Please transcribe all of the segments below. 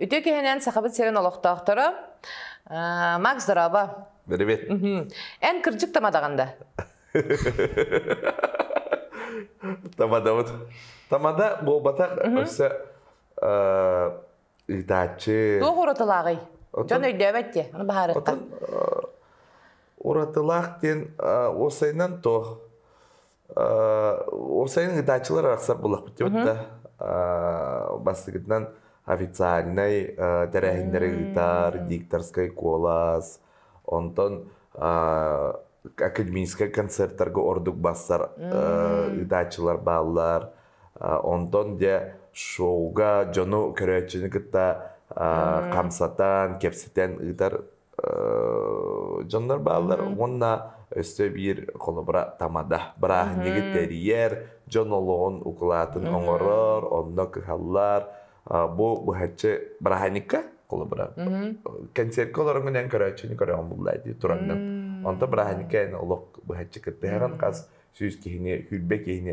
Үтүө киһинэн Сахабыт сирин олохтоохторо Макс Здорово. Привет. Эн кырдьык тамадаҕын да? Тамадабыт. Тамада буолбатах өссө ыытааччы туох уратылааҕый дьон өйдөөбөт диэ аны баһаарыттан уратылаах диэн уопсайынан туох уопсайын ыытааччылар арахсар буоллахпыт диэбит да бастакытынан официальнай тэрээһиннэри ыытар дикторскай куолас онтон академическай концертарга ордук бассар ыытааччылар бааллар Онтон дьэ шоуга дьону көрөөччүнү кытта хамсатан, кэпсэтэн ыытар дьоннор бааллар уонна өссө биир холобура тамада бырааһынньыгы тэрийэр дьон олоҕун укулаатын оҥорор онно кыһаллар бу быһаччы бырааһынньыкка холобура кэнсиэркэ олороҥҥун эн көрөөччүнү көрөҕүн буллаа дии тураҥҥын онто бырааһынньыкка эн олох быһаччы кыттыһаҕын хас сүүс киһини сүүрбэ киһини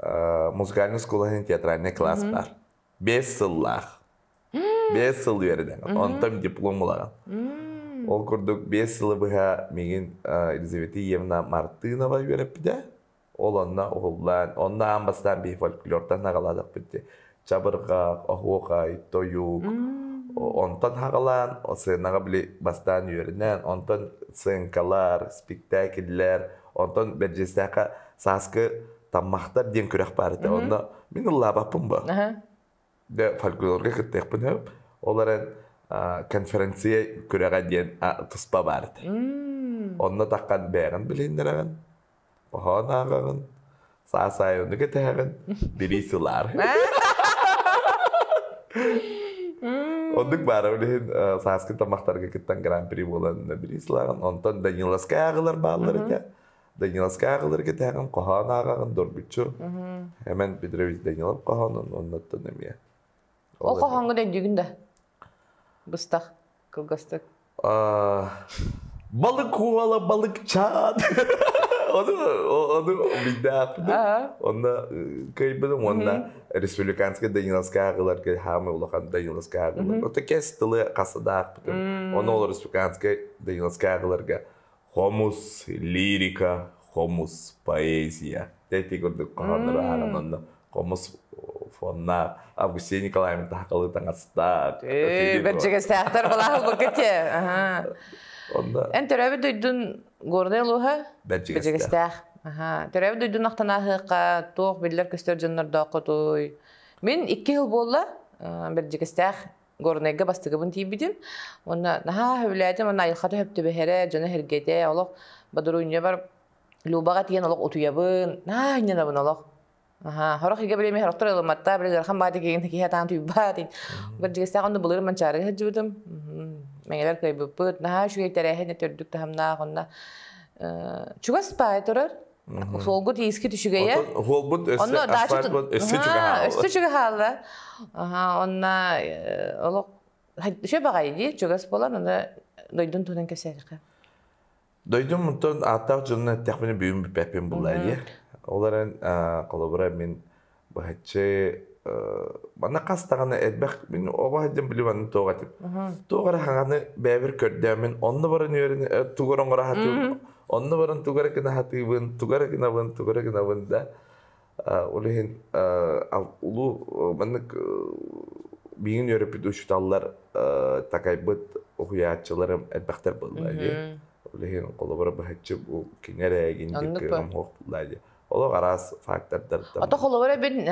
музыкальнай оскуола иһин театральный класс баар. Бес сыллаах. Бес сыл үөрэнэн. Онтон диплом ылаҕын. Ол курдук бес сылы быһа мигин Елизавета Евна Мартынова үөрэппитэ. Ол онно уһуллаан, онно аан бастаан би фольклортан наҕаладахпыт чабырҕах, оһуохай, тойук. Онтон хаҕалаан, сценаҕа били бастаан үөрэнэн, онтон сценкалар, спектакльлэр, онтон Бэрдьиэстээххэ сааскы Таммахтар диэн күрэх баар этэ. Онно мин ыллаабаппын бо. Да фольклорга кыттыахпын Ол эрэн конференция күрэҕэ диэн туспа баар этэ. Онно таххан бэйэҕин билиннэрэҕин Хоһоон ааҕаҕын, саасаайыны кэтэһэҕин, билии сылаар. Оннук баара билигин сааскы тамақтарга кыттан гран-при буолан билии сылааҕын. Онтон Даниловскай ааҕылар бааллар этэ. Даниловскай ааҕылары кэтэһэҕин, хоһоон ааҕаҕын, дорбуччу. Эмэн Петрович Данилов хоһоонун оннуттан эмиэ. Ол хоһооҥҥо дөйдүгүн да? Быстах кылгастык. Балык куола балыкчаат. Ону ону билдэхпитэ. Онно кыйбытым уонна республиканскай Даниловская ыларга хаамы улахан Даниловская ылар. Ота кес тылы хасыдаахпытым. Ону ол республиканскай Даниловская ыларга Хомус лирика, хомус поэзия. Эти курдук хоһооннор аһаран онно хомус фонна Августин Николаевна таһакалы таҥастаах. Э, бэрдьэгэстээхтэр балаһал баккатье. Онда Эн төрөөбүт дойдун горный алуха бэрдьэгэстээх. Аха, төрөөбүт дойдун ахтанаахықа туох биллэр көстөр дьоннордоох хотуй. Мин икки хыл болла бэрдьэгэстээх Горнайга бастыгыбын тиийбитим. Уонна наһаа сөбүлээтим, уонна айылха төһөптөбөһөрө, дьоно сэргэтэ, олох Бодоруйньабар Любаҕа тиийэн олох утуйабын, наһаа анньынабын олох. Аһаа, сорох ийгэ билими сорохтор ылымматта, били ыарахан баайда киһин киһи атаан туйбаат ин. Бэрдигистаах онну былырым манчаары сылдьыбытым. Мэҥэлэр кыайбыппыт, наһаа үчүгэй тэрээһин төрдүк таһымнаах онна. Э, чугас баай турар, Суолгут иискит үчүгэйэ. Суолбут өссө асфальтбыт өскө чугаһаала. Өскө чугаһаала. Аха, онна олох Шөп аҕай дии, чугас болан, аны дойдун тунан кэсээхэ. Дойдум мунтан ааттаах дьонун эттэхпин бүгүн бүппэппин булла дии. Олорон холобура мин Баччы манна хас даҕаны элбэх мин оҕо сылдьан билим аны туох этим. Туох эрэ хаҥаны бэйэбэр көрдөоммүн, онно баран үөрэн тугу эрэ оҥоро сатыыбын, онно баран тугу эрэ гына сатыыбын, тугу эрэ гынабын, тугу эрэ гынабын да ол иһин улуу маннык миигин үөрэппит учууталлар такайбыт уһуйааччыларым элбэхтэр буолла дии. Ол иһин холобура быһаччы бу кини эрэ эгин диир кыымам хуох булла дии. Олох араас фактордартан. Ото холобур эбин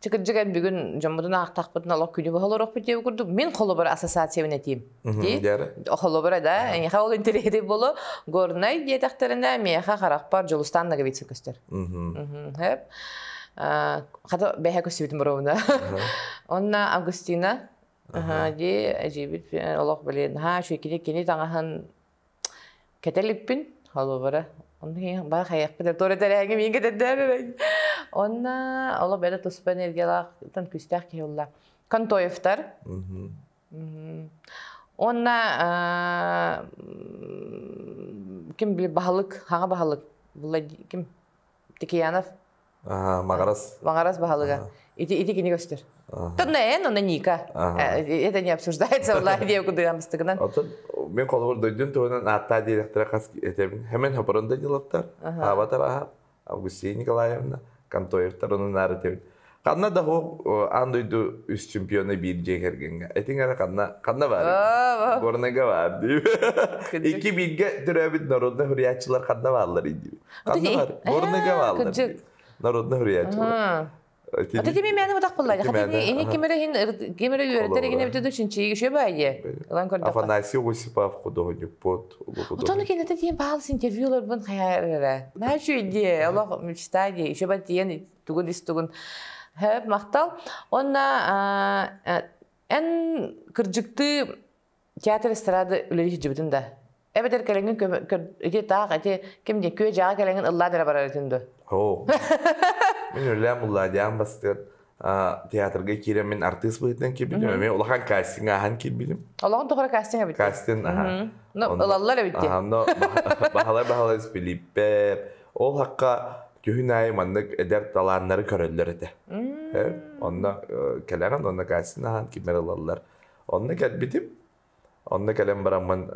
Чыкырдьыган бүгүн дьоммутун аахтахпытын олох күнү быһа олорохпут диэбит курдук, мин холобур ассоциациябын этиим. Дии. Холобура да, эйиэхэ ол интэриэһитий болу Горнай диэтэхтэринэ, миэхэ харахпар Дьулустаан Нагавицын көстөр. Хэп. Хата бэһэ көстүбүтүн боруобуна. Онна Августина, дии, эжибит олох билин, ха, шүкири кини таҥаһын Кэтэ иликпин, холобура. Ону иһин баҕа хайыахпыт эрэ, туора тэрээҥи миигин кэтэрдээбэбин. Онно олох бэрт туспа энергиялаахтан күүстээх киһи булла. Контоевтар. Уонна ким били баһылык, хаҥа баһылык булла ким Тикиянов. Маҕарас. Маҕарас баһылыга. Ити ити кини көстөр. Тоннен онно Ника. Это не обсуждается валлаһы диэн кудыган быстыгынан. Оттон мен холобур дойдун туһунан ааттаа диэтэхтэрэ хас этэбин. Hemen Хапырында дилаттар. Аабатар аха Августина Николаевна Контоевтар онун аарытыбын. Ханна да оһох аан дойду үс чемпиона биир дьиэ кэргэҥҥэ. Этиҥ эрэ ханна ханна баарый? Горнайга баар дии. Икки бииргэ төрөөбүт народнай уһуйааччылар ханна бааллар диир. Ханна бар? Горнайга бааллар. Народнай уһуйааччылар. Аты кими мээнэ бутах буллайга. Хатыны ини кимере хин кимере үөрэтер гине битэ дучинчи еще байе. Лан көрдө. Афанасий Осипов художникпот. Утону кенете дien баал интервьюлар бун хаяр эре. На үчү иди, олох мечтаги, еще ба тиен тугун ис тугун хөп махтал онна эн кырдьыктыы театр эстрады үлэлии сылдьыбытын да эбэтэр кэлэҥҥин ити таах ити ким диэн күө дьаҕа кэлэҥҥин ыллаан эрэ барарытын дуо оо мин үлэлээн буллаадиаан бастыан театрга киирэн мин артыыс быһыытынан киирбитим эмиэ улахан кастинг ааһан киирбитим олоҕун тухары кастинг эбит кастинг аhaa ылаллар эбит баһалар баһалар Филиппе Ол хахха күһүн аайы маннык эдэр талааннары көрөллөр этэ. Онно кэлэҕин, онно Катяны аһаан кимэр ылаллар. Онно кэлбитим. Онно кэлэн бараммын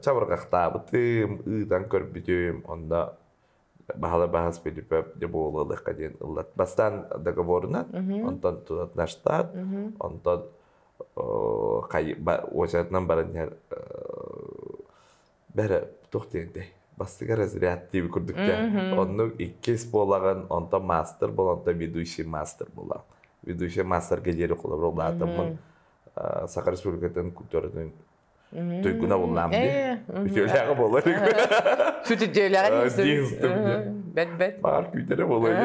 чабырҕахтаабытым, ыытан көрбүтүм. Онно Баһылай Баһыс Филиппов не буолуо лыахха диэн ыллат. Бастаан договорунан, онтон тунат наш штат, онтон Уочаратынан баран иһэр бэрэ туох диэҥтэй бастыҥа разряд диэбит курдук да оннук иккис буолаҕын онтон маастар болонто ведущий маастар буолаҕын ведущий маастарга диэри холобура улаатаммын саха республикатын культуратын туйгуна буллаам дии үтүөлээҕэ болар сүтүдүөлэҕэ бэт бэт баар күүтэрэ болайы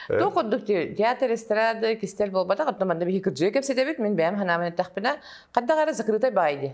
Туох курдук театр эстрады кистэл буолбатах оттон манна биһи кырдьыы кэпсэтэбит мин бэйэм ханаамын эттэхпинэ хандаҕ эрэ закрытай баай дии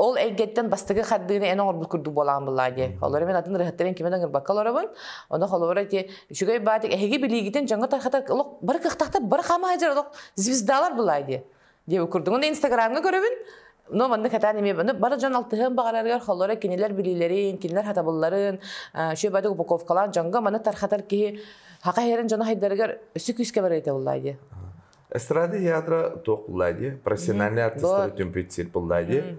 ол эйгэттэн бастакы хардыыны эн оҥорбут курдук буолаан буллаа диэн. Олор мен атын ырыһаттарын кимэн ыңырбакка олоробун. Оны холобура ти үчүгэй баатик эһиги билиигитин жаңа тархата олох бары кыхтахта бары хамаажыр олох звездалар булаа диэ. Диэ курдугун инстаграмга көрөбүн. но манна катаан эмиэ бары дьон алтыһыан баҕарарыгар холоро кинилэр билиилэрин кинилэр хатабылларын шөбәдүк упаковкалаан дьонго маны тархатар киһи хака херен дьоно хайдарыгар өсө күүскэ барыйта буллаа диэ Эстрады ядра туох буллади, профессиональный артисттары түмпүтсир буллади.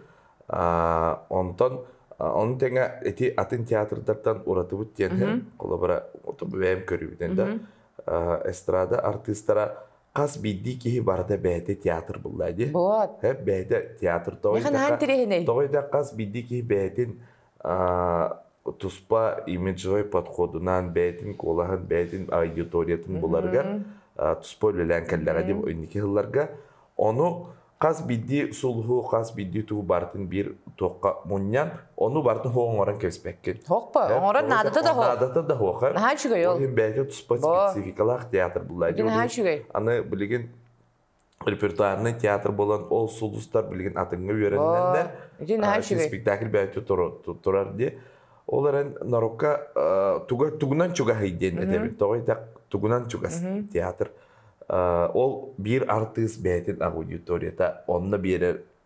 Онтон ону тэҥэ эти атын театрдартан уратыбыт диэн холобура бэйэм көрүбүтэн да эстрада артыыстара хас биирдии киһи барыта бэйэтэ театр булла ди. Вот. Бэйэтэ театр тоҕойдакка тоҕойдак хас биирдии киһи бэйэтин туспа имиджевай подходунаан бэйэтин куолаһын, бэйэтин аудиториятын буларыгар туспа үлэлээн кэллэҕэ дии инники сылларга. Ону хас биирдии сулуһу, хас биирдии тугу барытын биир туохха мунньан, ону барытын хоһ оҥорон кэбиспэккин. Хоһко, оҥорон наадата да хоһ. Наадата да хоһ. Наһаа үчүгэй ол. Ол иһин бэйэтэ туспа спецификалаах театр буллаа. Наһаа үчүгэй. Аны билигин репертуарный театр буолан ол сулустар билигин атыҥҥа үөрэннэннэр спектакль бэйэтэ турар дии ол эрэн нарукка тугунан чугаһый диэн этэбит тоҕо итэк тугунан чугас театр ол биир артыыс бэйэтин аудиторията онно биэрэр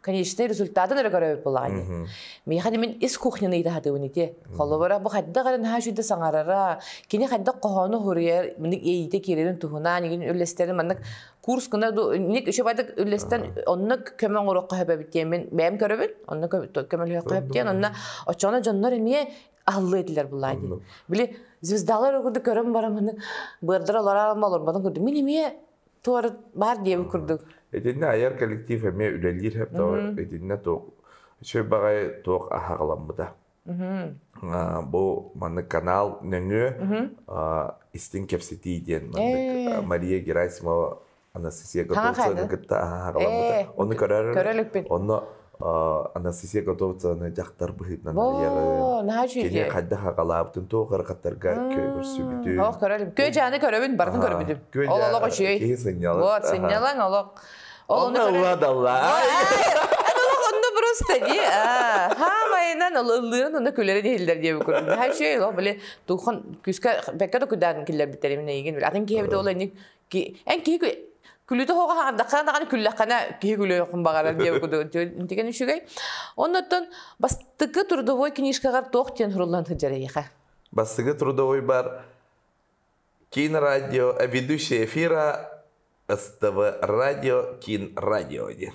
конечный результатын эрэ көрөбүт булаҕыны. Миэхэ мин ис кухняны иитаһатыбын ити. Холобура бу хайдах эрэн хаачыйда саҥарара, кини хайдах хоһоону хоруйар, миник иэйиитэ киирэрин туһунан, игин үллэстэрин маннык курс гына ник үчүбайдык үллэстэн онно көмө оҥоруохха хөбөбүт диэмин бэйэм көрөбүн, онно көмөлөһүөххэ хөп диэн, онно оччоно дьоннор эмиэ аллы этилер булаа дии. Били звездалар көрөн бараманы быардар олорам олорбатын көрдүм. Мин эмиэ Туор баар диэбит курдук. Итиннэ айар коллектив эмиэ үлэлиир хептоҕо итиннэ туох чөй баҕайы туох аһаҕаламмыта. Бу маннык канал нөҥүө истин кэпситии диэн маннык Мария Герасимова Анастасия Готовцеваны кытта аһаҕаламмыта. Э, Оны көрөр онно А, Анастасия Готовцеваны дьахтар быһыытынан арыйаҕын. Во, наһаа Кини үчүгэй. хайдах аҕалаабытын туох көрсүбүтүн. Ох, көрөлүм. Күө-дьааны көрөбүн, барытын көрөбүтүм. Ол олох үчүгэй. Киһи сынньалаҥ. Вот, сынньалаҥ олох. Ол Онно ону уладаллар. Олох онно просто дии. Хаамайынан ыллыырын онно күлэрин иһиллэр диэбит курдук. Наһаа үчүгэй. Ол блин, тухон күүскэ бэккэ да куйдаатын киллэрбиттэр имин эйигин бил. Атын киһи эбитэ ол энник эн киһи күлүүтэ хоҕа хаҥардахха даҕаны күллэххэнэ киһи күлүөххун баҕарар диэбит кудук тигэн үчүгэй оннуттан бастыкы трудовой книжкаҕар туох диэн суруллан сылдьар эйиэхэ бастыкы трудовой бар кинрадио а ведущая эфира ств радио кин радио диэн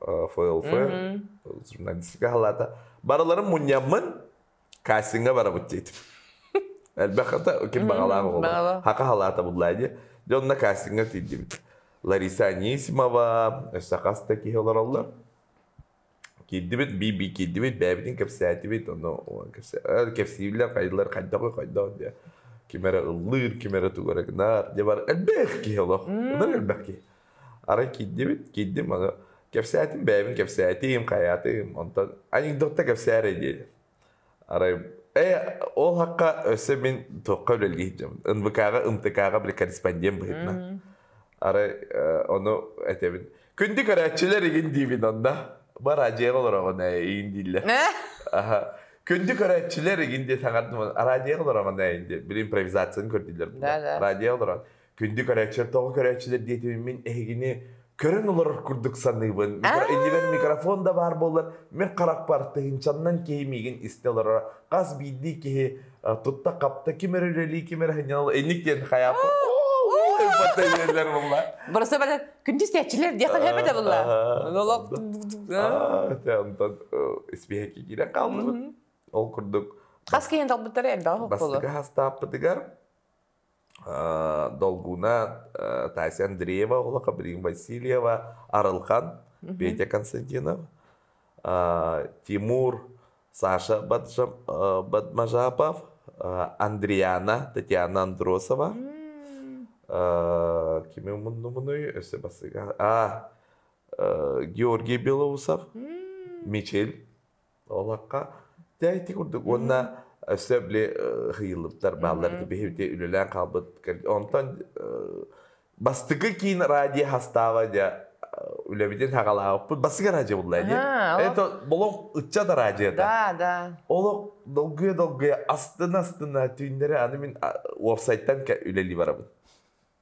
ФЛФ журналистика халаата барыларын мунньаммын кастиҥга барабыт диэтим элбэххата ким баҕалаах оҕолор хака халаата буллаа дии дьэ онно кастиҥга тиийдим Лариса Анисимова өссө хас да киһи олороллор киирдибит би би киирдибит бэйэбитин кэпсээтибит ону кэпсииллэр хайдылар хайдах хайдах диэ ким эрэ ыллыыр ким эрэ тугу эрэ гынар дьэ бар элбэх киһи олох элбэх киһи Арай киирдибит, киирдим аны кэпсээтим бэйэбин кэпсээтим, хайаатым, онтон анекдотта кэпсээрэй диэри. Арай э ол хахха өссө мин туохха үлэлии сылдьабын НВК-га, МТК-га били корреспондент быһыытынан. Арай э, ону этэбин. Күндү көрөөччүлэр игин диибин онно. Бара дьиэҕэ олороҕун ээ игин дииллэр. Аха. Күндү көрөөччүлэр игин диэ саҥардым араадьыйаҕа олороҕун ээ диэн били импровизацияны көрдүлэр. Да, да. Араадьыйаҕа олорон. Күндү көрөөччүлэр, тоҕо көрөөччүлэр диэтим мин эһигини көрөн олорор курдук саныыбын. Иннибэр микрофон да баар буоллар, мин харахпар тыһыынчаннан киһи миигин истэ олороро. Хас биирдии киһи тутта-хапта, ким эрэ үлэлии, ким эрэ сынньанал, инник диэн хайаапа. Burası böyle kündüsteçiler diye tahmin de bunlar. Nolog онтон испиэһэккэ киирэ хаалбыт. Ол курдук Хас киһи талбыттара элбэҕи хокколу. бастакы хастааппытыгар долгуна Тася Андреева, Олаха Брин Васильева, Арылхан, Петя Константинов, Тимур, Саша Бадмажапов, Андриана, Татьяна Андросова. Кими муннумунуй, өсө басыга. Георгий Белоусов, Мичил, Олохха дьайти курдук уонна өссө били ыйыллыбыттар бааллар ити биһиги үлэлээн хаалбыт онтон бастыкы киин радио хастааба дьа үлэбитин хагалаабыппыт бастыкы радио булла ди это олох ычча да радио да да олох долгуя долгуя астына астына түүннэри аны мин уопсайтан үлели барабын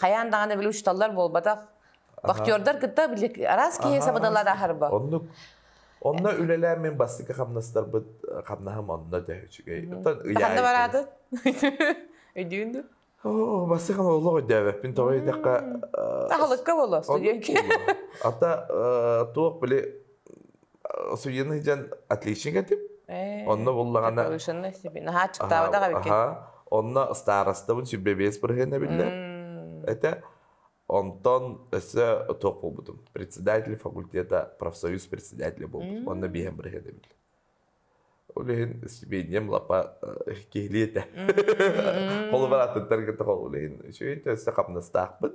хайаан даҕаны били учуталлар буолбатах бахтердар кытта били араас киһи сабыналар ахарба оннук онно үлэлээн мин бастакы хамнастарбыт хамнаһым онно дэ үчүгэй ханна бараатын өйдүүн ду оо бастакы олох өйдөөбөппүн тоҕо үйдэххэ ахалыкка боло студенки ата туох били судьяны сыдьан отличник этим онно буллаҕына повышенный себе наһаа аччыктаабатах эбиккин онно старостабын сүбэбиэс бырыһына биллэр этэ онтон өссө туох буолбутум председатель факультета профсоюз председателя буолбут онно биэһэн бырыһына биллэр ол иһин сибиинньэм лапа киһилии этэ холобур аттыттан кытта ол иһин үчүгэй өссө хамнастаахпыт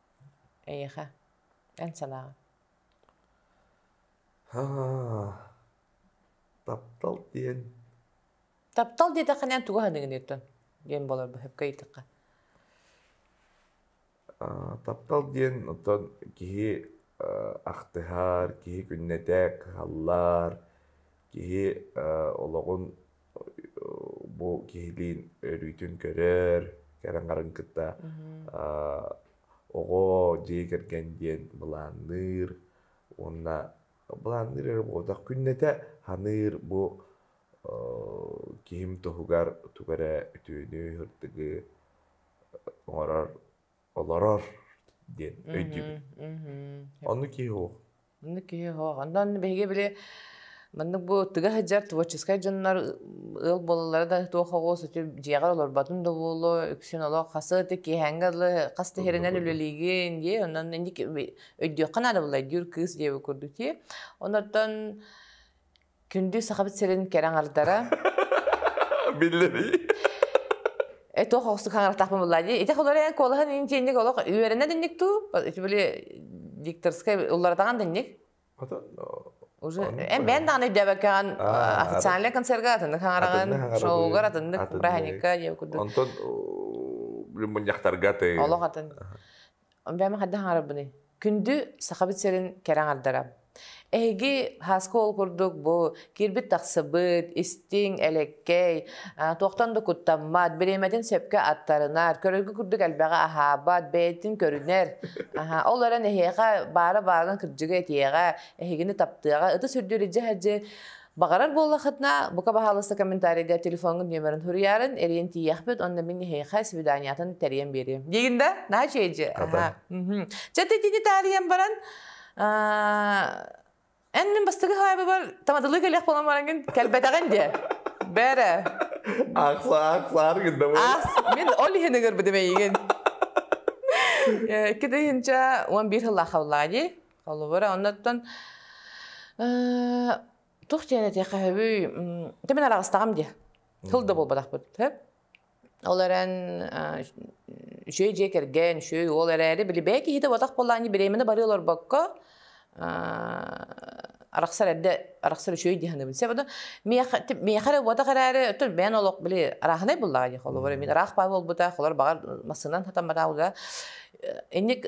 Эйиэхэ, эн санааҕын? Таптал диэн Таптал диэтэххинэ эн тугу саныыгыныйыттын диэн буолар быһыпка ыйытыхха. таптал диэн оттон киһи ахтыһар, киһи күннэтэ кыһаллар, киһи олоҕун бу киһилиин өрүүтүн көрөр, кэрэн-харан кытта оҕо дьиэ кэргэн диэн былаанныыр уонна былаанныыр эрэ буолбатах күннэтэ саныыр бу киһим туһугар тугу эрэ үтүөнү сырдыгы оҥорор олорор диэн өйдүүбүн. Оннук киһи Маннык киһи оһох. Онно биһиги били маннык бу тыга сылдьар творческай дьоннор ыал буолаллара да туох оҕо сытыы дьиэҕэр олорботун да буолуо, үксүн олох хас ити киэһээҥҥэ дылы хас тиһиринэн үлэлиигин дии, онон инники өйдүөххэ наада буолла өйдүүр кыыс диэбит курдук дии. Онортон Күндү Сахабыт сирин кэрэ аҥардара. Биллэрий? Эт ох охсук хаҥыратахпын булла дии. Итэх олорен куолаһын интинник олох үөрэнэ динник туу. Били дикторскай улларатаҕан динник. Уже эн бээн даҕаны өйдөөбөккөөн официальный концерга атыннык хаҥараҕын, шоугар атыннык праздника диэн курдук. Онтон мунньахтарга ты. Олох атын. Бэм хаддах аңарабыны. Күндү Сахабыт сирин кэрэ аңардара. Эһиги хаска ол курдук бу кирбит тахсыбыт, истиҥ, элэккэй, туохтан да куттаммат, бириэмэтин сөпкө аттарынар, көрөргө курдук элбэҕи аһаабат, бэйэтин көрүнэр. Аһа, ол эрэн эһиэхэ баара баарын кырдьыгы этиэҕэ, эһигини таптыаҕа. Ытыс үрдүүр илдьэ сылдьыы Баҕарар буоллахытына, бука баһаалыста комментарийда телефоҥҥут нөмөрүн суруйарын, эриэн тиийэхпит, онно мин эһиэхэ свиданиятын тэрийэн биэриэм. Диигин да, наһаа чээдьи. Чэ, титини таарыйан баран, эн мин бастыгы хаайбыбар тамадылы кэлэх болан бараҥын кэлбэтэҕин диэ. Бәрэ. Ахса, ахсаар гынна бу. Ас, мин ол иһин ыгырбыдым эйигин. Китиһинчэ 11 хыллаахаллаа дии. Холобур, оннуттан э, тух диэн эти хаһыбый тэмен араҕыстаҕым дии. Тыл да буолбатахпыт. Ол эрэн үчүгэй дьиэ кэргэн, үчүгэй уол эрээри били бэйэ киһитэ уотах буоллаанньы бириэмэни бары олорбокко арахсар эрдэ арахсар үчүгэй дии саныыбын. Себо миэхэ эрэ уотах эрээри өтүн бэйэн олох били арааһынай буллаҕа дии холобур мин араах баа буолбута холор баҕар массыынан сатаммата улаа инник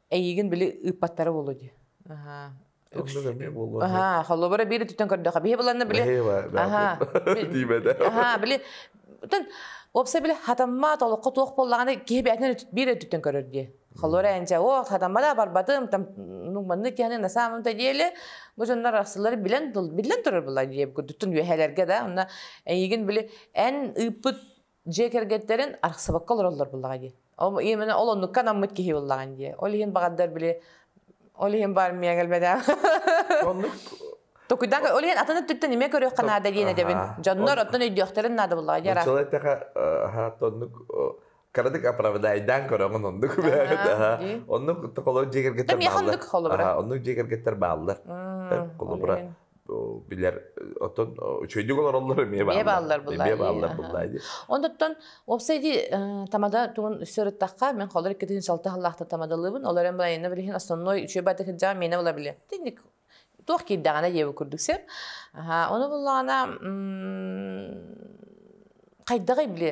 Эйигин били ыыппаттара буолуо дии. Аха. Оннук эмиэ буолуо. Аха, холобура биир өттүттэн көрдөхө. Биһи буланна били. Аха. Диибэтэ. Аха, били Тен опса биле хатамма толокко туох боллаганы киһи бээтинен биир өттүттэн көрөр дии. Холора энче о хатаммада барбатым там ну манны киһани на самом то деле бу жоннор арсылары билен билен турар булар дии курдуттун үөһэлерге да онна эйигин били эн ыыппыт дьиэ кэргэттэрин арахсыбакка олороллор буллаҕа дии. Ол именно ол оннукка анаммыт киһи буллаҕын дии. Ол иһин баҕардар били ол иһин баармия кэлбэдэ. Оннук Токуйдаҥ ол иһин атын өттүттэн ниме көрүөххэ наада диэн эдэбин. Дьоннор оттон өйдүөхтэрин наада буллаҕа дии Оччолор эттэхэ аха оннук кыратык оправдаайдаан көрөҕүн оннук бээбит аха оннук толору дьиэ кэргэттэр оннук холобура оннук дьиэ кэргэттэр бааллар холобура билэр оттон үчүгэйдик олороллор эмиэ бааллар эмиэ бааллар буллаа дии онтуттан уопсай дии тамада тугун үссө ырыттахха мен холор икки тыһын салта халлаахта тамадалыбын олор эм байына билиһин основной үчүгэй бата кырдьа миэнэ була биле тинник туох киирдэҕинэ диэбу курдук сеп аха ону буллаҕына хайдаҕай биле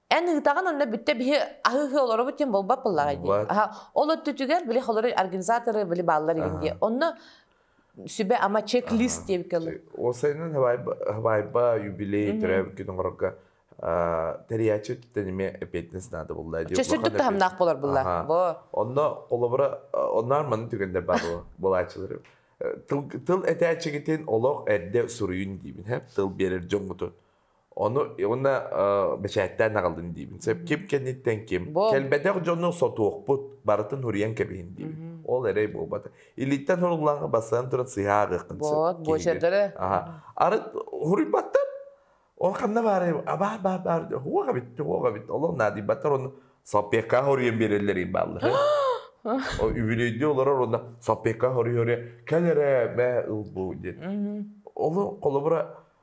Эн ыытаҕын онно бүттэ биһи аһыһы олоробут диэн болбот буллаҕай дии. Ол өттүтүгэр били холору организаторы били бааллар игин дии. Онно сүбэ ама чек-лист диэбит кэллин. Ол сайынын хабайба юбилей түрэ күнүморга тэрийээччи тениме эппиэтинес наада булла диye. Чөсүрдүк таһымнаах болар булла. Онно холобура оннар маны түгендер бар булаачылары. Тыл тыл этээччигитин олох эрде суруйун диибин. Тыл берер дьоҥҥутун. Ону уонна бэчээттээн аҕалдын диибин. Сөп ким кэнниттэн ким. Кэлбэтэх дьону сотуохпут, барытын уруйан кэбиһин диибин. Ол эрэй буолбат. Илииттэн суруллаҕа бассан туран сыһаа ааҕыаххын сөп. Вот, бу жердere. Арыт уруйбаттар. Ол ханна баарай, абаа баа баар, уоҕа битти, уоҕа битти, олох наадыйбаттар онно соппекка хоруйан биэрэллэр бааллар. Үбүлөйдүү олорор онно соппекка хоруйа кэл эрэ, бэ ыл бу диэн. Олы холобура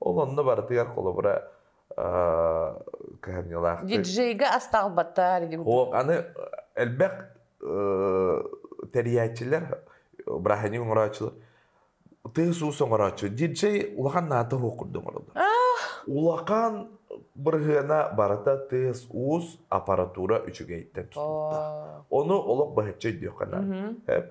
Ол онно барытыгар холобура кыһамньылаах. Диджейга астаалбата Хоох аны элбэх тэрийээччилэр, браһыни оҥорооччулар тыыс-уус оҥорооччу. Диджей улахан наата уох курдук оҥороллор. Улахан бырыһыана барыта тыас-уус аппаратура үчүгэйтэн тутулда. Ону олох баһыччы өйдүөххэ наада.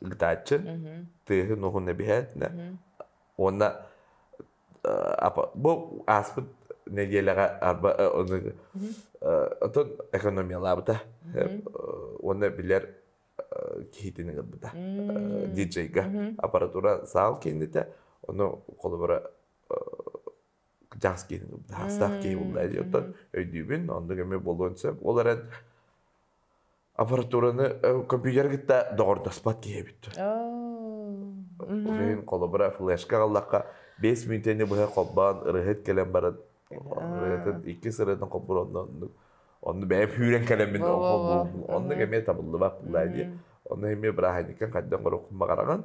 Ыытааччы тыаһын-уоһун эбиһээтинэ уонна бу ааспыт нэдиэлэҕэ арба отон экономиялаабыта уонна билэр киһитин ыҥырбыта диджейга аппаратура саал кииннитэ ону холобура дьаҥс киинин ылбыта хаастаах киһи буллаа диэ оттон өйдүүбүн оннук эмиэ буолуон сөп ол эрэн аппаратураны компьютер кытта доҕордоспот киһи эбит. Уйун холобура флешка аҕаллахха бэс мүнөтүнү быһа холбоон ырыһыт кэлэн баран ырыһытын иккис ырыһытын хоппур онно онну бэйэм сүүрэн кэлэммин оннук эмиэ табыллыбат была дии. Ону эмиэ бырааһынньыккан хайдан гороххун баҕараҕын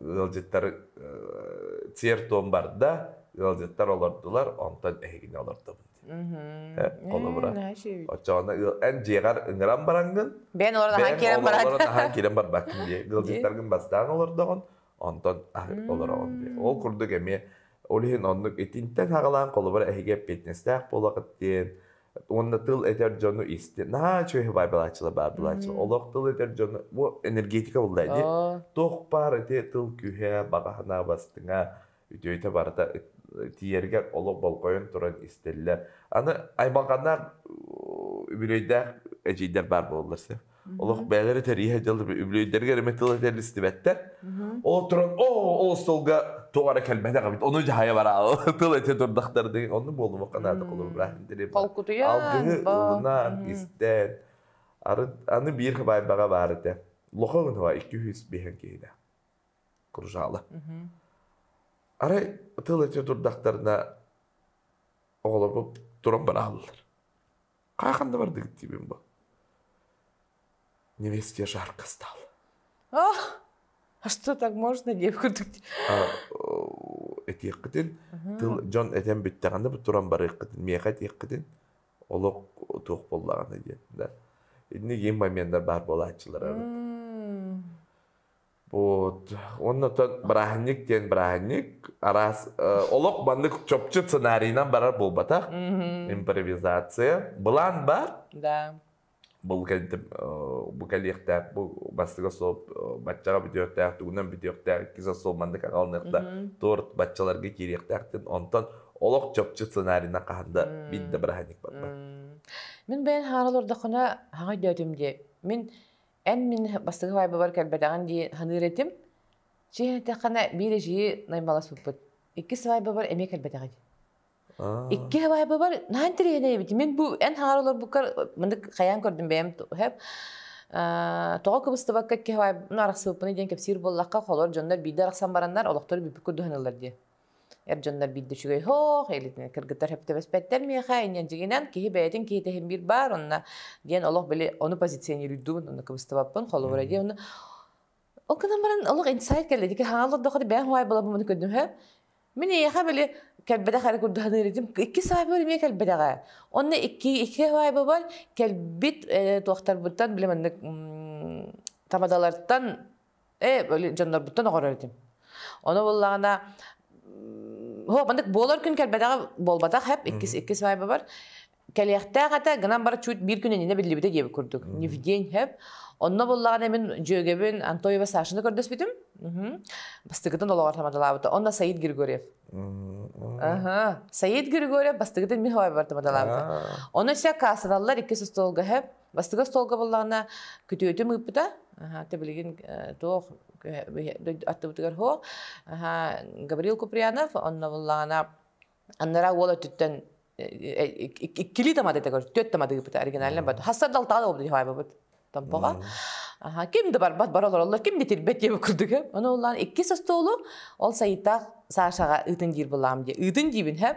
ыалдьыттар цер-туом барда, ыалдьыттар олордулар, онтон эһигини олордобут. Холобура. Оччоҕуна эн дьиэҕэр ыҥыран бараҥҥын. Бээн олорон киирэн баран. Олорон киирэн барбаккын диye. Ыалдьыттаргын бастаан олордоҕун, онтон олороҕун диye. Ол курдук эмиэ ол иһин оннук итинтэн аҕалаан холобура эһиги фитнестээх буолаҕыт диэн, Уонна тыл этэр дьону исти. Наа үчүгэй баайбалааччылар баардылааччылар. Олох тыл этэр дьону бу энергетика буллаа ини. Туох баар ити тыл күһэ, баҕаһынаа бастыҥа, үтүөйтэ барыта тиэргэр олох болҕойон туран истэллэр. Аны аймалҕаннаах үбүлүөйдээх эдьиийдэр баар буоллар сөп. Олох бэйэлэрэ тэрийэ дьалып үбүлүөйдэригэр эмэ тыл этэр истибэттэр. Ол туран оо ол столга тоҕо эрэ кэлбэтэх эбит. Ону дьаһайа бара тыл этэ турдахтар деген онну буолума канада холобура интириэп. Холкутуйа алгыһы истэн ары аны биир хабайбаҕа баар этэ. Лоха гынова 205 киһинэ. Кружала. Ары тыл этэ турдахтарына оҕолорбут туран бара аллар. Хахан да бардыгыт диибин бу. Невесте жарко стало. А, а что так можно, девка? Этиэххитин, тыл дьон этэн бүттэҕинэ бу туран барыаххытын, миэхэ этиэххитин, олох туох буоллаҕына диэн, да. Инники моменнар баар буолааччылар. Вот. Уонна бырааһынньык диэн бырааһынньык араас э, олох маннык чопчу сценарийынан барар буолбатах импровизация былаан бар да бұл бұл кэлиэхтээх бу бастыга сол баччаҕа бүтүөхтээх тугунан бүтүөхтээх иккис сол маннык аҕалыныахта торт баччаларга киириэхтээхтин онтон олох чопчу сценарийынан хаһан да бит да быраһанник барбат мен бэйэн хаарал ордохуна хаҥа дөөтүм дии мен эн мин бастакы вайбабар кэлбэтэҕин дии саныыр этим. Чэ этэххинэ биир эдьиийи наймаласпыппыт. Иккис вайбабар эмиэ кэлбэтэҕин. Икки вайбабар наһаа интэриэһинэйбитим. Мин бу эн хаҥар олорбуккар мындык хайаан көрдүм бэйэм төһөп тоҕо кыбыстыбакка икки вайбын арахсыбыппыный диэн кэпсиир буоллахха холор дьоннор биирдэ арахсан бараннар олохтор бүппүт курдук саныыллар дии Эр дьоннор биирдэ үчүгэй һоох илитин кыргыттар сөптөбөспөттөр миэхэ инньэн дьигинэн киһи бэйэтин киһитэһин биир баар онно диэн олох били ону позиционируйдубун ону кыбыстыбаппын холобура диэн ону ол гынан баран олох инсайт кэллэ дики хаан олордохо бэйэм хуай балабым ону көрдүм һө мин эйиэхэ били кэлбэтэх эрэ курдуһаныырытым икки саайба эмиэ кэлбэтэҕэ онно икки икки хуайба бар кэлбит туохтарбыттан били маннык тамадалартан Э, böyle дьоннорбуттан оҕорор этим. Ону буллаҕына Ho, маннык буолар күн кэлбэтэҕэ буолбатах хеп иккис иккис майба бар. Кэлиэхтээх этэ гынан бара чуть биир күн иннинэ биллибите диэбит курдук. Невдень хеп. Онно буллаҕына мин дьүөгэбин Антоева Сашаны көрдөспүтүм. Бастыгытын олоҕор тамадалаабыта. Онно Саид Григорьев. Аха. Саид Григорьев бастыгытын миховайбар тамадалаабыта. Ону ся кассаналлар иккис остуолга хеп. Бастыга столга буллаҕына күтүөтүм ыыппыта. Аха, тибилигин э, туох аттыбытыгар хо. Аха, Гаврил Куприянов, онно буллаҕына аннара уол өттүттэн иккилии тамадыта көр, түөт тамадыыпыта оригинальный бат. Хассар далтаала болбут хабабыт. Томпоға. Аха, ким да барбат барал ороллор, ким де тирбет диye курдуга. Оны уллан иккис остолу ол сайыта Сашаға ытын диир булам де. Ытын диибин хэп.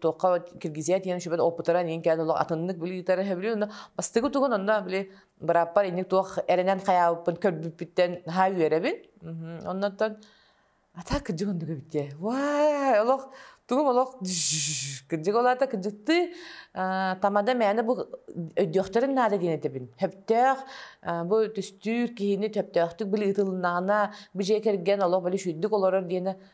туохха киргизия диэн үшүбэн опытара нин кээн олох атыннык билиитара хэбилин онно бастыгы тугун онно били быраппар инник туох эренен хаябыппын көрбүппүттэн ха үөрэбин оннотон ата кырдьык оннуга битте вай олох тугум олох кырдьык олата кырдьыктыы тамада мээнэ бу өйдөхтөрүм наада диэн этэбин хөптөөх бу түстүүр киһини төптөөхтүк били ытылыннаана бije кэрген олох били шүйдүк олорор диэне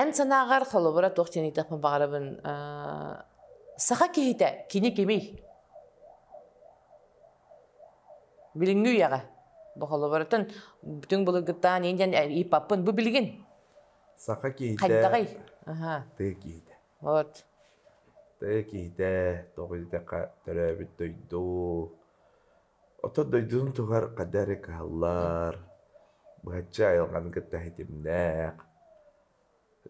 Эн санааҕар холобура туох диэн ыйытыахпын баҕарабын саха киһитэ кини кимий? Билиҥҥи үйэҕэ бу холобуртан бүтүн былыргыттаан ин диэн ыйыппаппын бу билигин саха киһитэ хайдаҕый тыа киһитэ вот тыа киһитэ тоҕо диэтэххэ төрөөбүт дойду Ото дойдутун туһугар хата эрэ кыһаллар, быһаччы айылҕаны кытта ситимнээх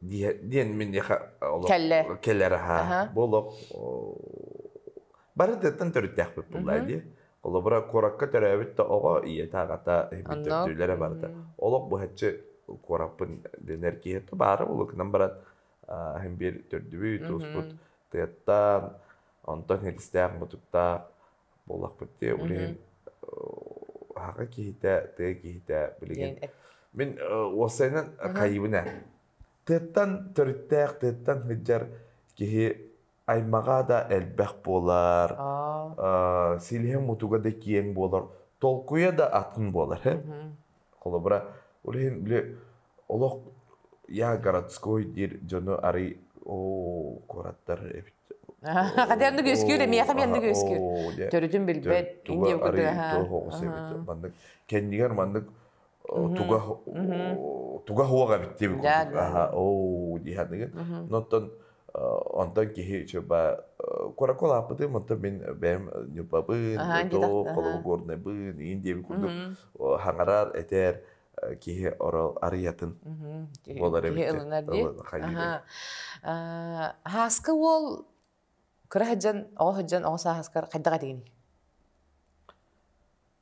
дии диэн миэхэ олох Кэллэ. кэлэр аһа. Аһа. Бу олох оо, бары тыаттан төрүттээхпит буоллаа Мгм. дии. Холобура, куоракка төрөөбүт да оҕо, ийэтэ-аҕата, иһиммит Онно төрдүүлэрэ барыта. мм Олох быһаччы куораппын дэнэр киһи то баара буолуо гынан баран, аа, иһин биир төрдүбүт, туспут мгм тыаттан, онтон илистээх, мутуктаах Буоллахпыт дии. Мм. Блин, аһаҕа киһитэ, тыа киһитэ билигин Диэн эт мин, э, уопсайынан Мгм. кайыбына. Тыаттан төрүттээх, тыаттан сылдьар киһи аймаҕа да элбэх буолар, Аа. э, силиһэ-мутуга да киэҥ буолар, толкуйа да атын буолар. Мгм. Холобура, ол иһин били олох я городской диир дьону арый оо куораттар эбит Хотя ону үөскүүр эмиэхэ мен үөскүүр төрүтүн билбэт инде тоҕус эбит маннык кэннигэр маннык туга туга хуох эбит диэбит курдук аха оо диһаныгын но оттон Онтон киһи чуба кураку лааппытым, онтон мин бэйэм ньупабын, тотоп, холобу горнайбын, иин диэбит курдук хаҥарар, этэр киһи арыйатын буолар эбит. Хааска уол кыра сыдьан, оҕо сыдьан, оҕо сааскар хайдах этигиний?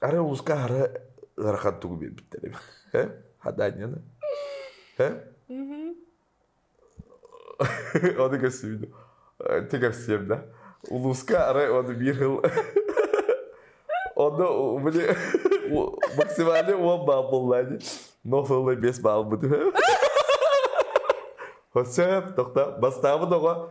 Ары улуска ары ыарахан тугу биэрбиттэрим. Хадаанньаны. Ону көрсүбүтүм. Ты кэпсиэм да. Улууска ары ону биир хыл Онно были максимально он балл был, но сылы бес балл быты. Хоссеп, тоқта, бастабы доға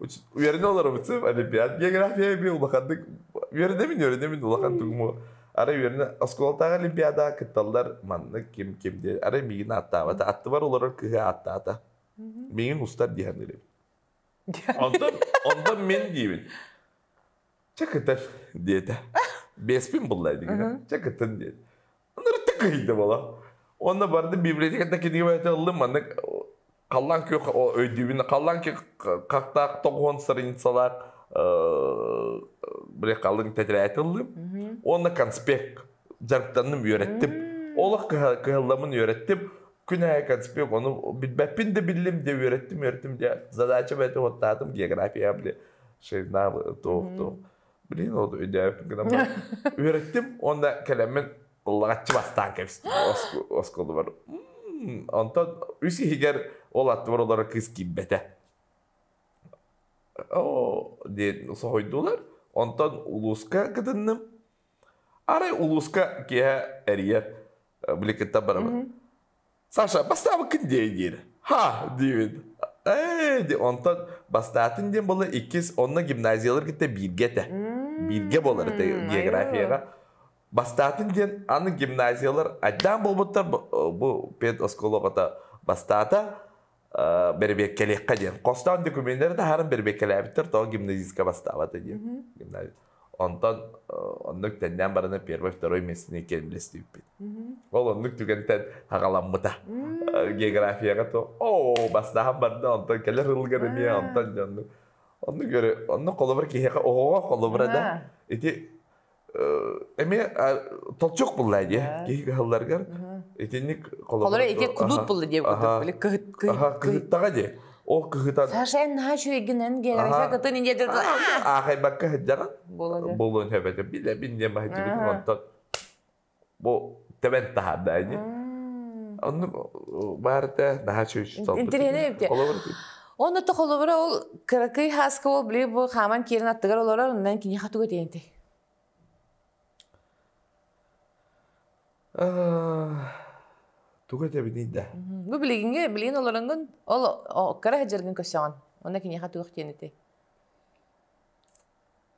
үөрэнэ олоробутум олимпиад география би улаханнык үөрэнэбин үөрэнэбин улахан тугуму арай үөрэнэ оскуолатааҕы олимпиада кытталлар маннык ким ким диye арай миигин ааттаабата аттыбар олорор кыһы ааттаата миигин устар диһан элебин онтон онтон мен диибин чэ кытыр диэтэ беспин булла дигин чэ кытын диет Ырытык кыһыйда бола. Онно барды библиотекада кинигебайты ыллым маннык халлаан кү өйдүүбүн халлаан кү хактаах тоҕуон страницалаах бре халлын тетирээти ыллым онно конспект жарыктанным үөрэттим олох кыһалламын үөрэттим күн айы конспект ону билбэппин да биллим де үөрэттим үөрэттим де задача бэти оттаатым география бли шейна то то Блин, ол өйдөөбүт гынан баран, үөрэттим уонна кэлэммин ыллаҕаччы бастаан кэбистим осколубар. Онтон үс иһигэр ол аттыбар олорор кыыс киирбэтэ. Оо, диэн соһуйдулар. Онтон улууска кытынным. Арай улууска киэһэ эрийэр, били кыттан барабын. Саша, бастаабыккын диэй диир. Ха, диибин. Ээ, ди, онтон бастаатын диэн була иккис, онно гимназиялар кытта бииргэ этэ. Бииргэ буолар этэ М, географияҕа. айылҕа. Бастаатын диэн аны гимназиялар айдаан буолбуттар бу, бу педосколоҕата бастаата. бэрэбиэркэлиэххэ диэн хостоон документнары таһааран бэрэбиэркэлээбиттэр тоҕо гимназистка бастаабата диэн гимназия онтон оннук тэннээн барана первый второй месячникке үллэстибиппит ол оннук түгэнтэн хаҕаламмыта географияҕа то оо бастаан барда онтон кэлэр ылгар эмиэ онтон оннук оннук көрө оннук холобур киһиэхэ оҕоҕо холобура да ити эмиэ толчок булла дии киһи кыһалларгар итинник холобур ити кудут булла дии биле кыһыт кыһыттаҕа дии ол кыһыта сашен нашу игинен генерача кытын инедер аахайбакка сыддьаҕын буолуон эбэтэ билэ бин диэн баһыддыбытын онтон Бу тэбэн таһаардаайны. М. Онну баарда наһаа чүч Интеллигентная холобур Онно то холобура ол кыракый хааска ол били бу хааман киирэн аттыгар олорор оннан киниэхэ тугу диэнтэй? Тугу этэбиний да? Бу билигиҥҥэ билигин олоронгун ол кыра сылдьаргын көрсөҕүн. Онно киниэхэ туох диэн этэй?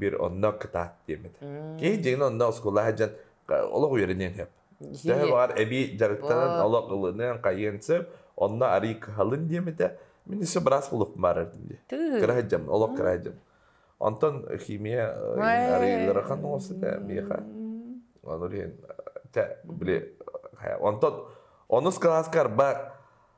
bir онно кытаат диэмит. Киһи дьиҥин онно оскуола сылдьан олох үөрэниэн сөп. Төһө баҕар эбии дьарыктанан олох ылыныан хайыан сөп онно арыый кыһалын диэмитэ мин исэ быраас булуп маарардым дии. Кыра сылдьам олох кыра сылдьам. Онтон химия арыый ыарахан оҥосута миэхэ. Ону иһин били онтон онус кылааска арба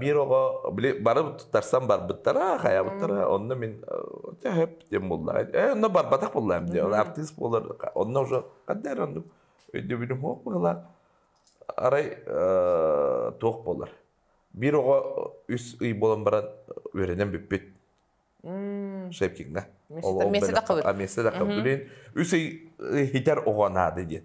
биир оҕо били бары тутарсан барбыттара хайабыттара онно мин төһөп диэн булла э онно барбатах буллаам диye артыыс буолар онно уже қаддер ондук өйдөбүлүм хоқ была арай тоқ болар биир оҕо үс ый болан баран үөрэнен бүппүт шепкинга месседе қабыт блин үс ый хитер оҕо наады диет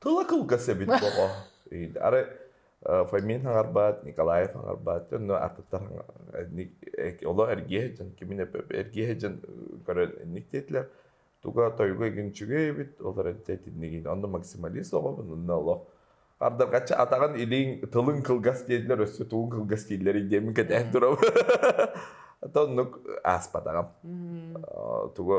Тыла кылгас эбит боҕо. Арай Фомин аҥарбаат, Николаев аҥарбаат, онно артыттар олох эргиэ дьон кимин эргиэ дьон көрөн инник диэтилэр туга тойуга игин үчүгэй эбит олор итиннигин онно максималист оҕобун онно олох ардаргаччы атаҕын илииҥ тылыҥ кылгас дииллэр өссө тугун кылгас дииллэрий диэмин кэтээн турабын ата оннук ааспатаҕым туга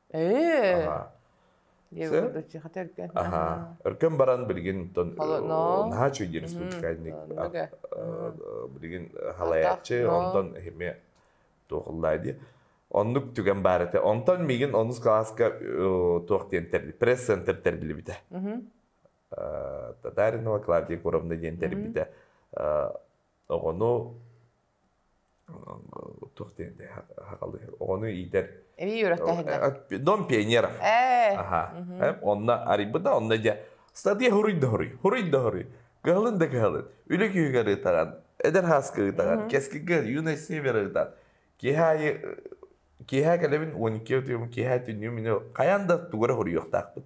Ээ. Дии курдук тэлгэн. Аха. Өркөн баран билигин тон наһаа үчүгэй республиканник билигин халаячы онтон эми туохуллаадиэ оннук түгэн баар этэ онтон мигин онус класска туох диэн тэрли пресс центр тэрбилибите татаринова клавдия куровна диэн тэрбите оҕону туох диэн оҕону иитэр эбии үөрэхтээһиннэр дом пионеров аха онно арыйбыта онно дьэ статья хуруй да хуруй хуруй да хуруй кыһалын да кыһалын үлэ күһүгэ ырытаҕан эдэр хааска ырытаҕан кэскилгэ юность север ырытаан киэһэ аайы киэһэ кэлэбин он икки отуйум киэһэ түннүм мин хайаан да тугура хуруйуохтаахпыт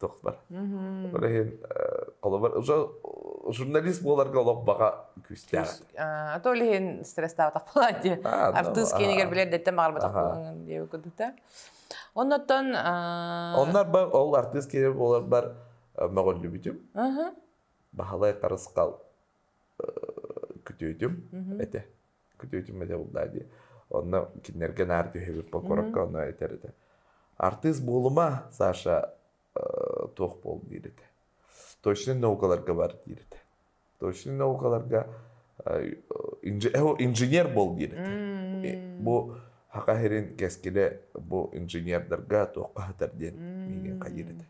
тохтор. Ол иһин холобур уже журналист буоларга олох баҕа күүстээх. А то лиһин стресстаабатах болаан дии. Артыыс киэнигэр билэрдеттен маҕарбатах диэби кудута. Оннотон Оннар бар ол артыыс киэнигэр буоларбар мөҕүллүбүтүм. Баһылай Тарысхал күтүөтүм этэ күтүөтүм этэ булдаа дии онно кинилэргэ наар түһэбит покоровка ону этэр этэ артыыс буолума саша туох буол диир этэ точно наукаларга бар диир этэ точно наукаларга инженер бол диир этэ бу хаха сирин кэскилэ бу инженердарга туохха хатар диэн миигин хайыр этэ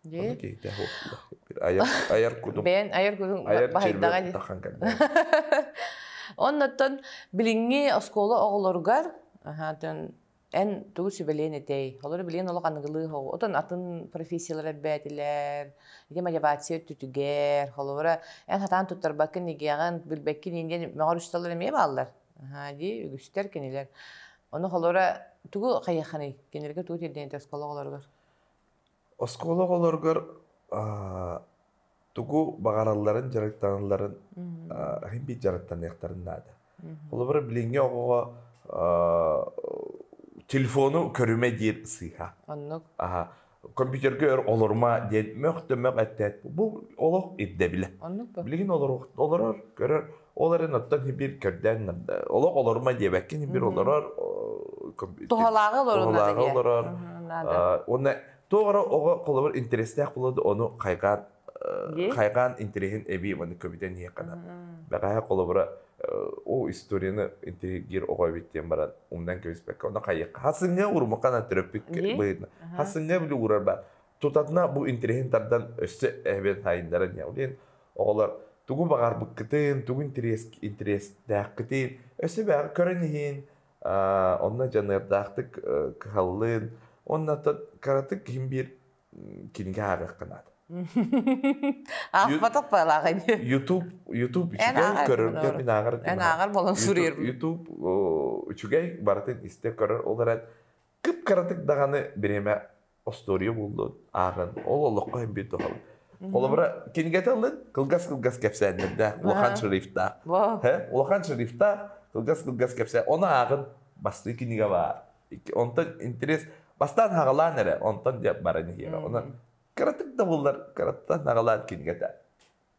Дии. Ону киһитэ айар айар кутум Бэйэн айар кутуҥ айар чирбиэр баһыйдаҕа дии. куттахан кэлбэҕэ. Оннуттан билиҥҥи оскуола оҕолоругар аһаатын эн тугу сүбэлиэн этэй? Олору билиэн олох аныгылыы оҕо. Отон атын профессиялар элбээтилэр, ити мотивация өттүтүгэр. Холобура, эн сатаан туттарбаккын эгиэҕин, билбэккин ииниэн мөҕөр учууталлар эмиэ бааллар. Аһаа дии, үгүстэр кинилэр. Ону холобура тугу хайыаххыный? Кинилэргэ тугу тиэрдэниэй оскуола оҕолоругар? Оскуола оҕолоругар тугу баҕаралларын, дьарыктаналларын иһин биир дьарыктаныахтарын наада. Холобура, билиҥҥи оҕоҕо телефону көрүмэ диир сыыһа. Оннук. Аһа. Компьютерга өр олорума диэн мөх да мөх эттээт бу олох ирдэбилэ. Оннук бу. Билигин олорор, олорор, көрөр Ол эрэн оттон Сибиир көрдөөн олох олорума диэбэккин Сибиир олорор туһалааҕы олорор олорор уонна туох эрэ оҕо холобур интэрэстээх буолуо ону хайҕаан хайҕаан интэриэһин эбии манна көбүтэн иһиэххэ бэҕэһээ холобура о историяны интриһиргиир оҕо эбит диэн баран умнан кэбиспэккэ ону хайыахха хасыҥҥа урумуххана төрөппүт быһыытына хасыҥҥа били уурар баар тутатына бу интэриэһин тардан өссө эбэн сайыннаран яулин Оҕолор тугу баҕарбыккытын, тугу интэриэс, интэриэстээххитин өссө бэҕи көрөн иһин, аа, онно дьаныардаахтык э, кыһаллын. Уонна та- кыратык киһим биир м, кинигэ ааҕыахха наада. Аахпатах баалаах ини. YouTube YouTube Эн үчүгэй ааҕар көрөргө буолар. мин ааҕар Эн гынабын. ааҕар буолан YouTube суруйар. YouTube о, үчүгэй барытын истэ көрөр олорон кып кыратык даҕаны бириэмэ остуоруйа буллун, ааҕын, ол олоххо хэмбит дохал. Холобура, кинигэтэ ылын, кылгас-кылгас кэпсээннэрдээх, улахан шрифтаах. Улахан шрифтаах, кылгас-кылгас кэпсээн. Оны ааҕын, бастыы кинигэ баар. Онтон интерес, бастаан хагалаан эрэ, онтон дьэ баран иһиэҕэ. Онон кыратык да буллар, кыраттан хагалаан кинигэтэ.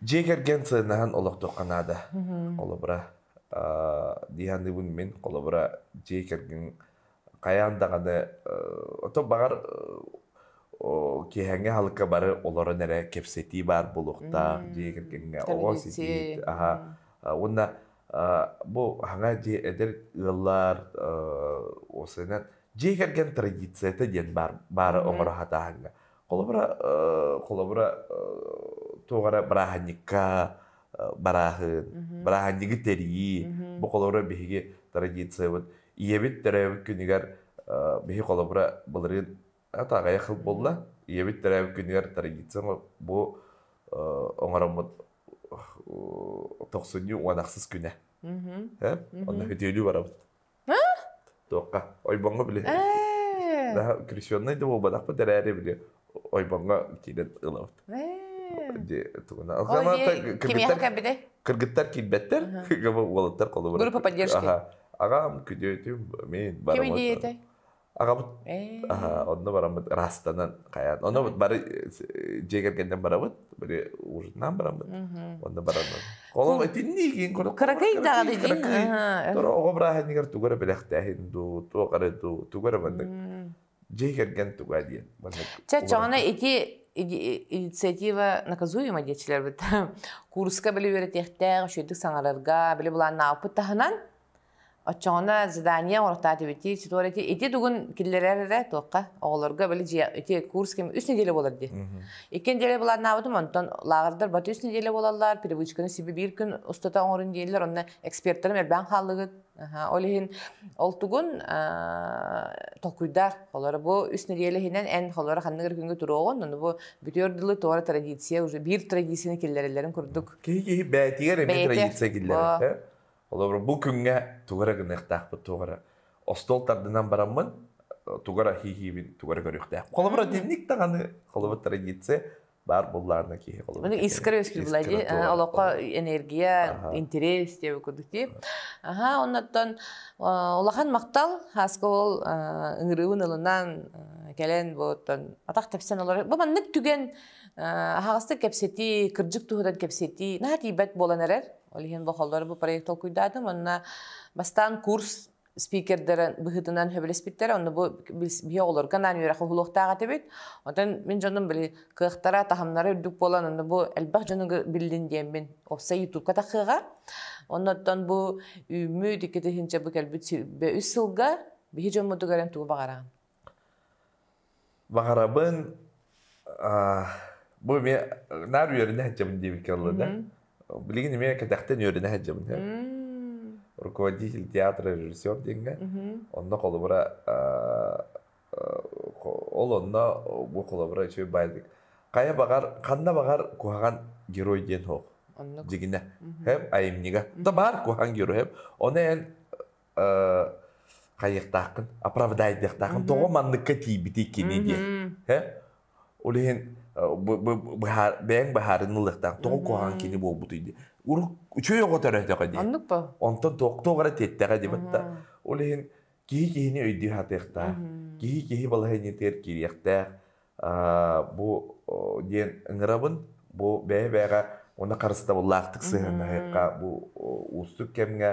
дьиэ кэргэн сыһыаннаһан олохтуохха наада. Холобура, диһаныыбын мин, холобура, дьиэ кэргэн хайаан даҕаны ото баҕар киэһэҥҥи халыкка бары олорон эрэ кэпсэтии баар буолуохтаах дьиэ кэргэҥҥэ оҕо ситии аха уонна бу хаҥа дьиэ эдэр ыаллар осынан дьиэ кэргэн традицията диэн баара оҥоро хатааһыҥҥа Холобура, холобура туох эрэ бырааһынньыкка барааһын, бырааһынньыгы тэрии, бу холобура биһиги традициябыт. Ийэбит төрөөбүт күнүгэр биһи холобура былырыын ата аҕыйах хыл буолла. Ийэбит төрөөбүт күнүгэр традиция бу оҥороммут тохсунньу уонахсыс күнэ. Онно үтүөнү барабыт. Туохха? Ойбоҥҥо били. Ээ. Daha крещенный да буолбатахпыт эрээри били ойбоҥҥо киирэн ылабыт. Ээ. Дии тугуна. Ылзаманта кимиэхэ кэббитэй? Кыргыттар киирбэттэр, кыга уолаттар холобура. Группа поддержки. Аха. Ағам күдөөтүм, мен барамат. Кими диэтэй? Аҕабыт аһа онно бараммыт ыраастанан хайаан. Онно бары дьиэ кэргэннэн барабыт, бары ужинан бараммыт. Онно бараннан. Колом итинний киин курдук Кыракый даҕаны дин. Торо оҕо бырааһынньыгар тугу эрэ бэлэхтээһин дуу, туох эрэ дуу, тугу эрэ маннык дьиэ кэргэн туга диэн. Чэ, чоҕуна ити инициатива наказуема диэчилэрбит курска били үөрэтиэхтээх, үшүөтүк саҥарарга, били булааннааппыт таһынан Оччоҕуна задание оҥортаатыбыти, ситуарити ити тугун киллэрэр эрэ туохха оҕолорго били дьиэ ити курс ким үс неделя болар дии. Икки неделя былааннаабытым онтон лааҕырдар баты үс неделя болаллар, привычканы сиби биир күн устата оҥорун дииллэр, онно экспертарым элбээн хааллыгыт. Ол иһин ол тугун толкуйдаар. Олоро бу үс неделя иһинэн эн холоро ханныгыр күнгө туруоҕун, ону бу бүтүөр дылы туора традиция уже биир традицияны киллэрэллэрин курдук. Киһи киһи бээтигэр эмиэ традиция киллэрэр. Холобура, бу күҥҥэ тугу эрэ гыныахтаахпыт, туох эрэ остуол тардынан бараммын, тугу эрэ хииһиибин тугу эрэ көрүөхтээхпин. Холобура, дневник даҕаны, холобур, традиция баар буоллаҕына киһи холобур. Маны искра үөскүүр буолла дии. Олоххо энергия, интерес диэбит курдук дии. Аха, оннуттан улахан махтал Хаска ол ыҥырыыбын ылынан кэлэн бу атах тэпсэн олор. Бу маннык түгэн аһаҕастык кэпсэтии, кырдьык туһунан кэпсэтии наһаа тиийбэт буолан эрэр. Ол иһин бохоллор бу проект толкуйдаатым уонна бастаан курс спикердэрин быһыытынан сөбүлэспиттэр онно бу биһи оҕолорго анаан үөрэх уһулуохтаах этибит отон мин дьонум били кыахтара таһымнара үрдүк буолан онно бу элбэх дьонугу биллин диэммин опса ютубка тахыаҕа оннооттон бу үүммүт икки тыһыынча бу кэлбит үс сылга биһи дьоммутугар эн тугу баҕараҕын Баҕарабын бу эмиэ наар үөрэнэ сылдьабын диэбиккэ буолла да билигин эмиэ кэтэхтэн үөрэнэ сылдьабын сөп руководитель театра режиссер диэҥҥэ онно холобура ол онно бу холобура үчүгэй баайдык хайа баҕар ханна баҕар куһаҕан герой диэн суох дьигинэ айымньыга да баар куһаҕан герой ону эн хайыахтааххын оправдайдыахтааххын тоҕо манныкка тиийбитий кини диэн ол иһин бэйэҥ быһаарыны ылыахтаах тоҕо куһаҕан кини буолбутуй диэн урут үчүгэй оҕо төрөөтөҕө диэн онтон тоқтоох эрэ тиэттэҕэ диэ батта ол иһин киһи киһини өйдүү сатыахтаах киһи киһи балаһыанньатыгар киириэхтээх бу диэн ыҥырабын бу бэйэ бэйэҕэ уонна харыстабыллаахтык сыһыаннаһыахха бу уустук кэмҥэ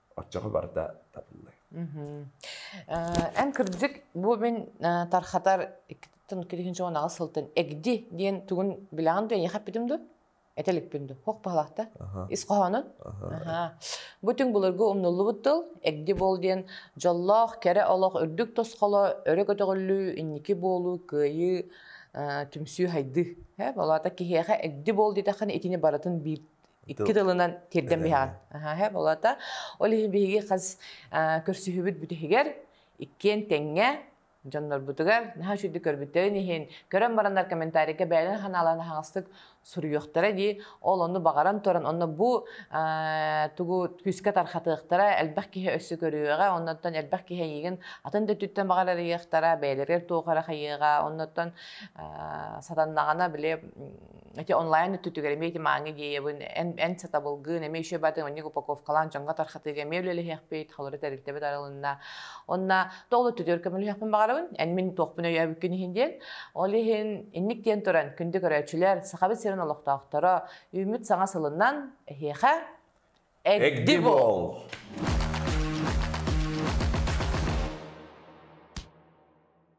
оччоҕо барда табыллыа эн кырдьык бу мин тархатар иккитин кирихинчи он аҕыс сылтан эгди диэн тугун билэҕин дуо эйиэхэ эппитим дуо этэ иликпин дуу хох баһалаахта ис хоһоонун бу түҥ былыргы умнуллубут тыл эгди буол диэн дьоллоох кэрэ олох үрдүк тосхоло өрө көтөҕүллүү инники буолуу кыайыы түмсүү хайдыы болаата киһиэхэ эгди буол диэтэххинэ итини барытын биир Икки тылынан тирден биһаҕан. Аһаһа болата. Ол иһин биһиги хас көрсүһүбүт бүтүһүгэр иккиэн тэҥҥэ дьоннорбутугар наһаа үчүгдүк көрбүттэрин иһин көрөн бараннар комментарийга бэйэлэрин ханааларын аһаҕастык суруйуохтара дии ол онну баҕаран туран онно бу тугу күүскэ тархатыахтара элбэх киһи өссө көрүөҕэ оннуттан элбэх киһи эйигин атын да өттүттэн баҕар арыйыахтара бэйэлэригэр туох эрэ хайыаҕа оннуттан сатаннаҕына бile эти онлайн өттүтүгэр эмиэ ити маанга гиэйэбин эн эн сатабылгын эмиэ еще батын онньук упаковкалаан дьонго тархатыыга эмиэ үлэлэһиэхпит холоро тэрилтэбит арылынна онна тоол өттүтүгэр көмөлөһүөхпүн баҕарабын эн мин туохпун өйөөбүккүн иһин диэн ол иһин инник диэн туран күндү көрөөччүлэр сахабыт сирин олохтоохторо үүммүт саҥа сылынан эһиэхэ эгди бол